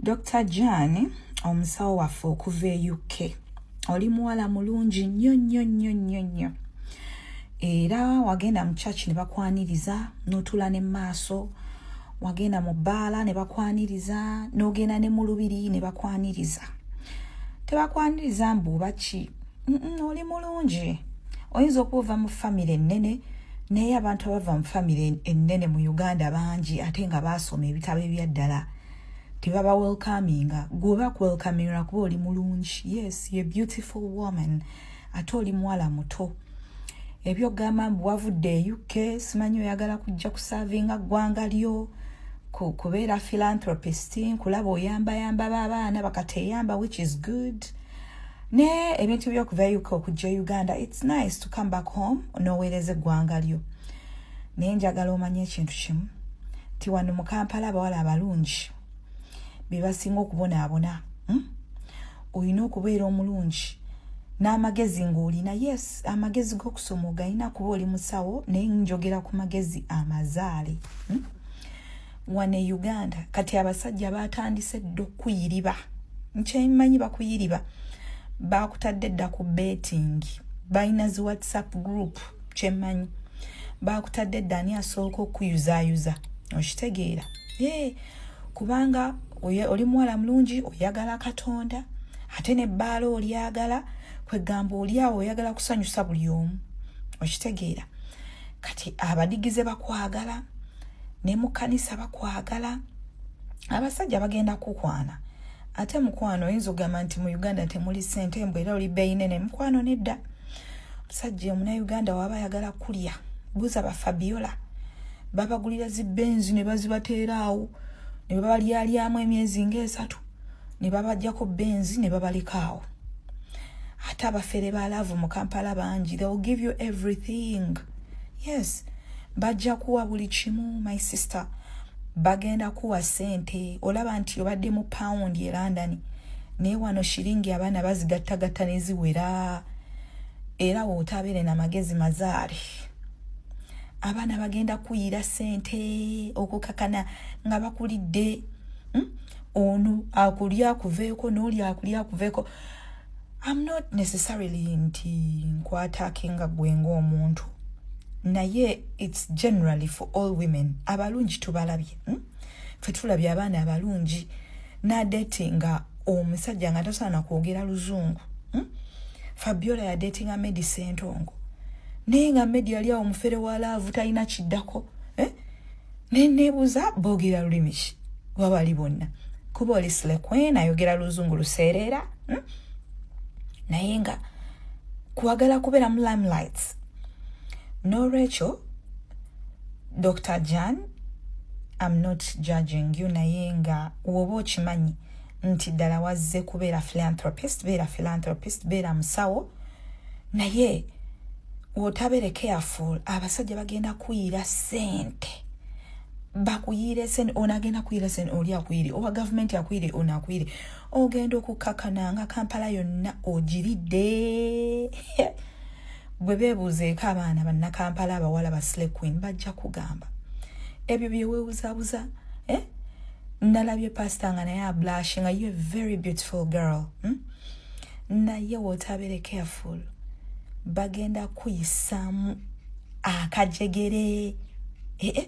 Dr. Jane omusawo waffe okuva e UK oli muwala mulungi nnyo nnyo nnyo nnyo nnyo era wagenda mu church ne bakwaniriza n'otuula ne maaso wagenda mu bbaala ne bakwaniriza n'ogenda ne mu lubiri ne bakwaniriza tebakwaniriza mbu oba ki oli mulungi oyinza okuba ova mu famire ennene naye abantu abava mu famire ennene mu uganda bangi ate nga baasoma ebitabo ebyaddala tebaba welcominga gweoba kuwelcominga kuba oli mulungi yes ye beautiful woman ate oli muwala muto ebyogamba mbu wavudde e uk simanyi oyagala kujja kusavinga ggwanga lyo kubeera philanthropist nkulaba oyambayamba baabaana bakateyamba which is good ne ebintu byokuva uk okujja e uganda its nice to come back home noweereza eggwanga lyo naye njagala omanye ekintu kimu ti wano mu kampala abawala abalungi bebasinga okubonaabona hmm? olina okubeera omulungi n'amagezi ng'olina yes amagezi g'okusoma ogalina kuba oli musawo naye njogera ku magezi amazaale hmm? wano e uganda kati abasajja batandise dda okuyiriba nkyemanyi bakuyiriba bakutadde dda ku betting balina zi whatsapp group kyemanyi bakutadde dda ani asooka okuyuzayuza okitegeera ee kubanga oli muwala mulungi oyagala katonda ate ne bbaala olyagala kwegamba olyawo oyagala kusanyusa buli omu okitegeera kati abadigize bakwagala ne mu kkanisa bakwagala abasajja bagenda kukwana ate mukwano oyinza okugamba nti mu uganda temuli sente mbu era oli beyinene mukwano nedda omusajja omunauganda waba ayagala kulya buza bafabiola babagulira zibenzi ne bazibateeraawo ne babalyalyamu emyezi ngaesatu ne babajjako benzi ne babaleka awo ate abafere ba laavu mu kampala bangi they will give you everything yes bajja kuwa buli kimu my sister bagenda kuwa sente olaba nti obadde mu pound e london naye wano shiringi abaana bazigattagatta neziwera era wootabeere na magezi mazaale abaana bagenda kuyira sente okukakana nga bakulidde hmm? ono akuli akuveeko n'oli akuli akuveeko am not necessarily nti nkwataake nga gwe ng'omuntu naye its generally for all women abalungi tubalabye hmm? fe tulabye abaana abalungi nadeti nga omusajja nga tasaana kwogera luzungu hmm? fabiola yadetinga medi sentongo naye nga medi yali awo mufere wa laavu talina kiddako naye nebuuza boogera lulimi ki oba bali bonna kuba oli slequeen ayogera luzungu luseereera hmm? naye nga kwagala kubeera mu limelights n'olwekyo dr jan am not judging you naye nga woba okimanyi nti ddala wazze kubeera philanthropist beera philanthropist beera musawo naye wotabere careful abasajja bagenda kuyira sente bakuyire sente ono agenda kuyira sente oli akuyire owa gavumenti akuyire ono akuyire ogenda okukakana nga kampala yonna ogiridde bwe beebuuzeeko abaana bannakampala abawala ba slay queen bajja kugamba ebyo byewewuzabuza eh? ndalabye pasita nga naye ablashi nga you a very beautiful girl hmm? naye wotabere careful bagenda kuyisaamu akajegere ee eh, eh.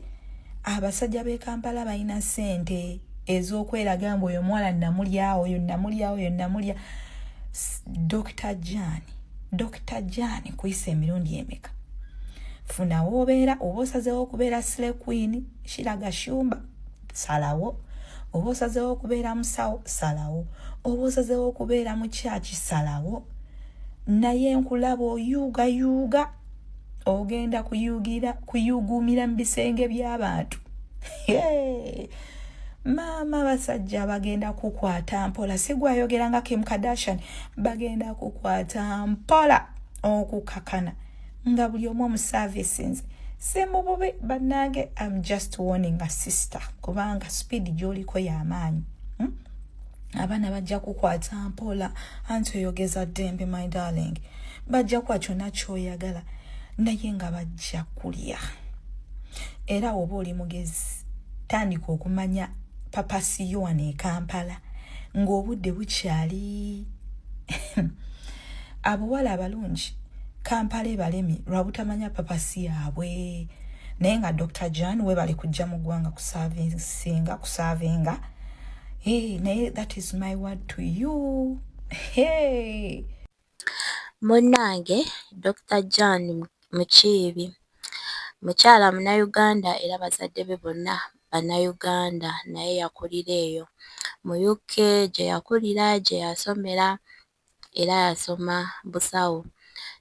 abasajja b'e kampala balina sente ez'okweraga mbu oyo omuwala namulyawo oyo namulyawo oyo namulya dokita jaani dokita jaani kuyisa emirundi emeka funa woobeera oba osazeewo okubeera sle queen kiraga shumba salawo oba osazeewo okubeera musawo salawo oba osazeewo okubeera mu kyaki salawo naye nkulaba oyuugayuuga ogenda kuyugira kuyuguumira mu bisenge by'abantu maama abasajja bagenda kukwata mpola sigwayogera nga kim kardashian bagenda kukwata mpola okukakana nga buli omu omuservicinze simububi banange am just warning a sister kubanga speed gyoliko yamaanyi hmm? abaana bajja kukwata mpola anti oyogeza ddembe my darling bajja kuwa kyona kyoyagala naye nga bajja kulya era woba oli mugezi tandika okumanya papasiyowana ekampala ng'obudde bukyali abawala abalungi kampala ebalemi lwabutamanya papasi yaabwe naye nga dr jan webale kujja mu ggwanga kusavinsinga kusavinga hey, naye that is my word to you hey. munnange dr jan mukiibi mukyala munayuganda era bazadde be bonna bannayuganda naye yakulira eyo mu uk gye yakulira gye yasomera era yasoma busawo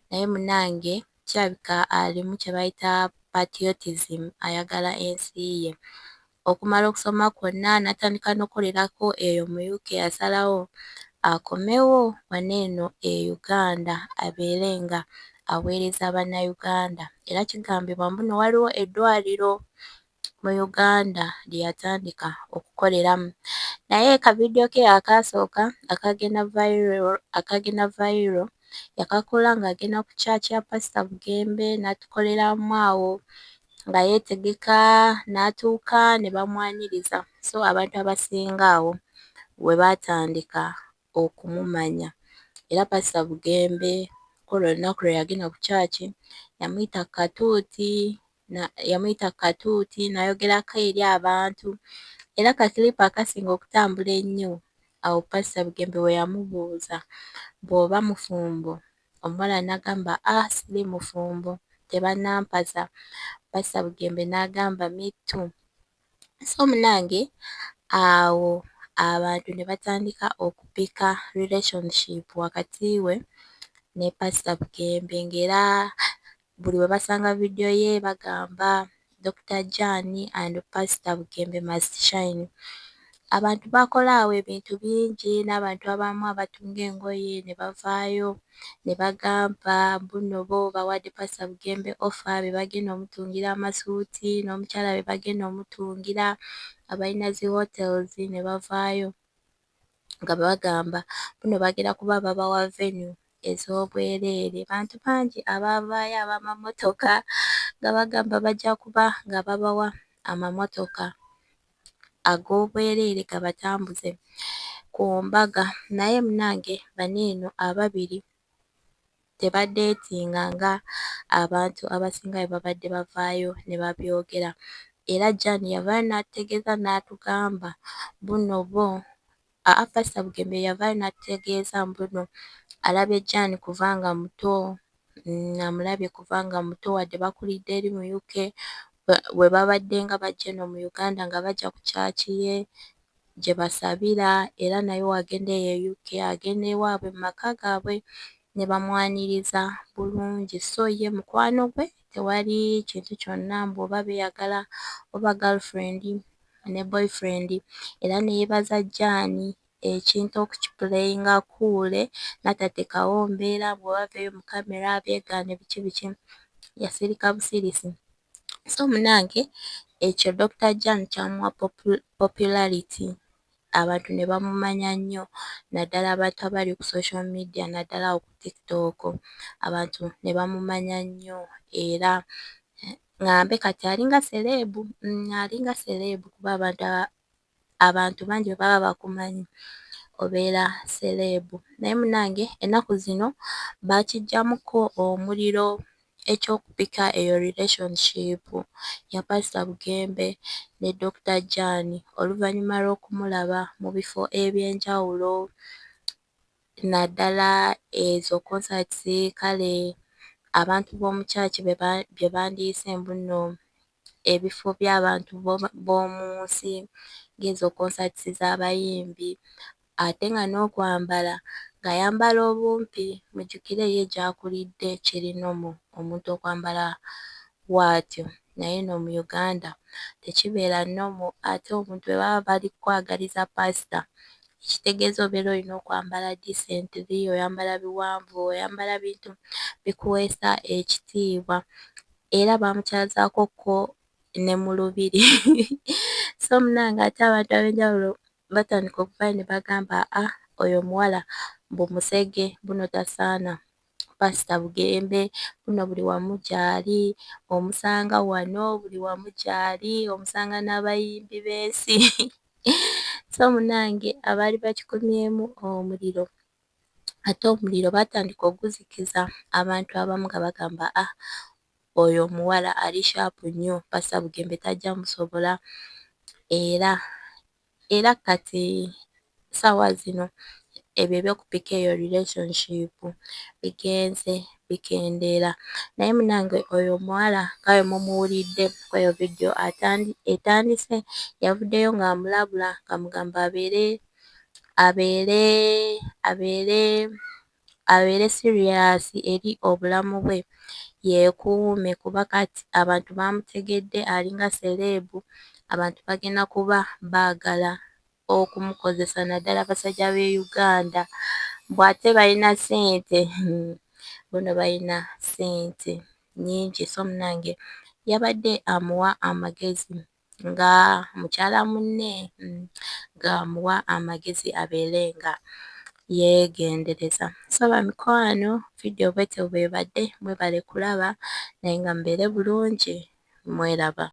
naye munange kirabika alimu kyebayita patriotism ayagala ensi ye okumala okusoma kwonna natandika nokukolerako eyo mu UK yasalawo akomewo wano eno e Uganda abeere nga aweereza banauganda era kigambibwa mbuno waliwo eddwaliro mu Uganda lye yatandika okukoleramu naye ka vidiyo ke akaasooka akagenda viral akagenda viral yakakola ng'agenda ku kyaki ya Pasita Bugembe n'atukoleramu awo nga yeetegeka n'atuuka ne bamwaniriza so abantu abasinga awo we baatandika okumumanya era Pasita Bugembe ku olwo olunaku lwe yagenda ku kyaki yamuyita katuuti yamuyita katuuti n'ayogerako eri abantu era ka kiripu akasinga okutambula ennyo awo Pasita Bugembe we yamubuuza bw'oba mufumbo omuwala n'agamba ah siri mufumbo tebannampasa Pasita Bugembe n'agamba me too so munnange awo abantu ne batandika okupika relationship wakati we ne Pasita Bugembe ng'era buli webasanga video ye bagamba Dokita Jane and Pastor Bugembe must shine. Abantu bakola awo ebintu bingi n'abantu abamu abatunga engoye ne bavaayo ne bagamba mbuno bo bawadde Pastor Bugembe offer be bagenda omutungira amasuuti n'omukyala be bagenda omutungira abalina zi hotels ne bavaayo. nga bagamba buno bagenda kuba babawa venue ez'obwereere. Bantu bangi abaavaayo ab'amamotoka nga bagamba bajja kuba nga babawa amamotoka ag'obwereere gabatambuze ku mbaga naye munnange bano eno ababiri tebadeetinga nga abantu abasinga bwe babadde bavaayo ne babyogera era Jane yavaayo n'atutegeeza n'atugamba mbuno bo aa Pasita Bugembe yavaayo n'atutegeeza mbuno alabye Jane kuva nga muto, amulabye kuva nga muto wadde bakulidde eri mu UK, bwe babaddenga bajja eno mu Uganda nga bajja ku kyaaci ye. gye basabira era naye wagenda eyo e UK agenda ewaabwe mu maka gaabwe ne bamwaniriza bulungi so ye mukwano gwe tewali kintu kyonna mbu oba beeyagala oba girlfriend ne boyfriend era ne yeebaza Jane ekintu okukipuleyinga akuule n'atateekawo mbeera mbu oba aveeyo mu kkamera abyegaane biki biki yasirika busirisi. so munange ekyo Dokita Jan kyamuwa popularity abantu ne bamumanya nnyo naddala abantu abali ku social media naddala awo ku tiktok abantu ne bamumanya nnyo era ŋŋambe kati alinga sereebu, alinga sereebu kuba abantu... abantu bangi bwebaba bakumanyi obeera seleebu naye munange ennaku zino baakiggyamukko omuliro eky'okupika eyo relationship ya Pastor Bugembe ne Dokita Jane oluvannyuma lw'okumulaba mu bifo eby'enjawulo naddala ezo concerts kale abantu b'omu church bye bandiyise mbu nno ebifo by'abantu b'omu nsi ng'ezo konsaatisi z'abayimbi ate nga n'okwambala ng'ayambala obumpi mujjukire ye gy'akulidde kiri nomo omuntu okwambala bwatyo naye eno mu Uganda tekibeera nomo ate omuntu bwe baba bali kukwagaliza paasita ekitegeeza obeera olina okwambala disentiri, oyambala biwanvu, oyambala bintu bikuweesa ekitiibwa era baamukyazaako ko ne mu lubiri so munange ate abantu ab'enjawulo batandika okuvaayo ne bagamba a ah, oyo omuwala mbu musege buno tasaana pasita bugembe buno buli wamu gyali omusanga wano buli wamu gyali omusanga n'abayimbi b'ensi so munange abaali bakikumyemu omuliro ate omuliro baatandika oguzikiza abantu abamu nga bagamba ah oyo omuwala ali shaapu nnyo Pasita Bugembe tajja musobola era era kati ssaawa zino ebyo eby'okupika eyo relationship bigenze bikendeera naye munange oyo omuwala nga bwe mumuwulidde kweyo vidiyo etandise yavuddeyo ng'amulabula ng'amugamba abeere abeere abeere abeere serious eri obulamu bwe yeekuume kuba kati abantu baamutegedde alinga seleebu abantu bagenda kuba baagala okumukozesa naddala abasajja b'e Uganda mbu ate balina ssente hhuu bona balina ssente nnyingi so munnange yabadde amuwa amagezi nga mukyala munne ng'amuwa amagezi abeere nga yeegendereza. So bamikwano vidiyo bwetyo bw'ebadde, mwebale kulaba naye nga mubeere bulungi, mweraba.